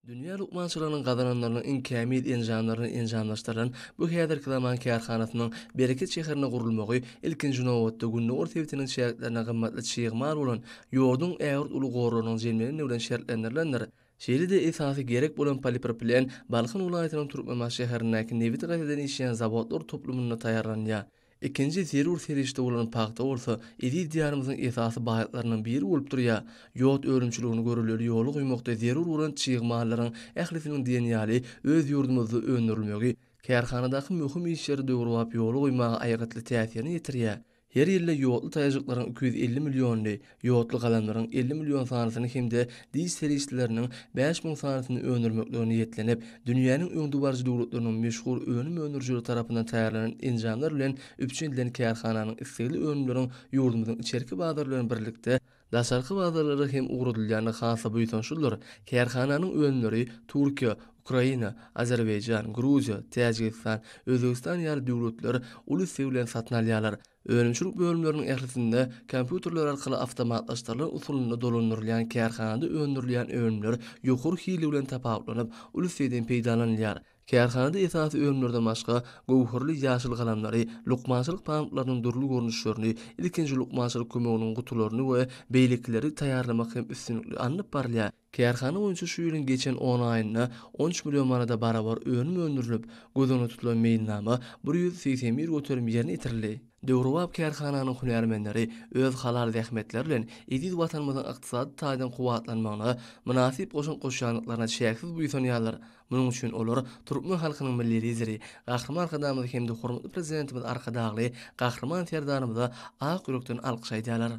Dünýä lukmançylygynyň gazananlarynyň iň kämil enjamlaryny enjamlaşdyrylan bu häzirki zaman kärhanasynyň Bereket şäherinde gurulmagy, ilkinji nobatda, Gündogar sebitiniň çäklerine gymmatly çig mal bolan ýoduň ägirt uly gorlarynyň jemleneni bilen şertlendirilendir. Şeýle-de esasy gerek bolan polipropilen Balkan welaýatynyň Türkmenbaşy şäherindäki nebiti gaýtadan işleýän zawodlar toplumynda taýýarlanýar. Ikinji zerur serişde bolan pagta bolsa eziz Diýarymyzyň esasy baýlyklarynyň biri bolup durýar. Ýod önümçiligini görülgeli ýola goýmakda zerur bolan çig mallaryň ählisiniň diýen ýaly öz ýurdumyzda öndürilmegi kärhanadaky möhüm işleri döwrebap ýola goýmaga aýgytly täsirini ýetirýär. Her ýylda ýodly taýajyklaryň iki ýüz elli milliony ýodly galamlaryň elli million sanysyny hem-de diş serişdeleriniň bäş müň sanysyny öndürmeklige niýetlenip, dünýäniň öňdebaryjy döwletleriniň meşhur önüm öndürijileri tarapyndan taýýarlanan enjamlar bilen üpjün edilen kärhananyň islegli önümleriň ýurdumyzyň içerki bazary bilen birlikde, daşarky bazarlara hem ugradylýandygy has-da buýsançlydyr. Kärhananyň önümleri Türkiýe, Ukraina, Azerbaýjan, Gruziýa, Täjigistan, Özbegistan ýaly döwletler uly isleg bilen satyn alýarlar. Önümçilik bölümleriniň ählisinde kompýuterler arkaly awtomatlaşdyrylan usulynda dolandyrylýan kärhanada öndürilýän önümler ýokary hili bilen tapawutlanyp, uly islegden peýdalanylýar. Kärhanada esasy önümlerden başga, göwherli ýaşyl galamlary, lukmançylyk pamyklarynyň dürli görnüşlerini, ilkinji lukmançylyk kömeginiň gutularyny we beýlekileri taýýarlamak hem üstünlikli alnyp barylýar. Kärhana boýunça şu ýylyň geçen on aýynda on üç million manada barabar önüm öndürilip, göz öňünde tutulan meýilnama bir ýüz segsen bir göterim ýerine ýetirildi. Döwrebap kärhananyň hünärmenleri öz halal zähmetleri bilen eziz Watanymyzyň ykdysady taýdan kuwwatlanmagyna mynasyp goşant goşýandyklaryna çäksiz buýsanýarlar, munuň üçin olar türkmen halkynyň Milli Lideri, Gahryman Arkadagymyza hem-de hormatly Prezidentimiz Arkadagly Gahryman Serdarymyza ak ýürekden alkyş aýdýarlar.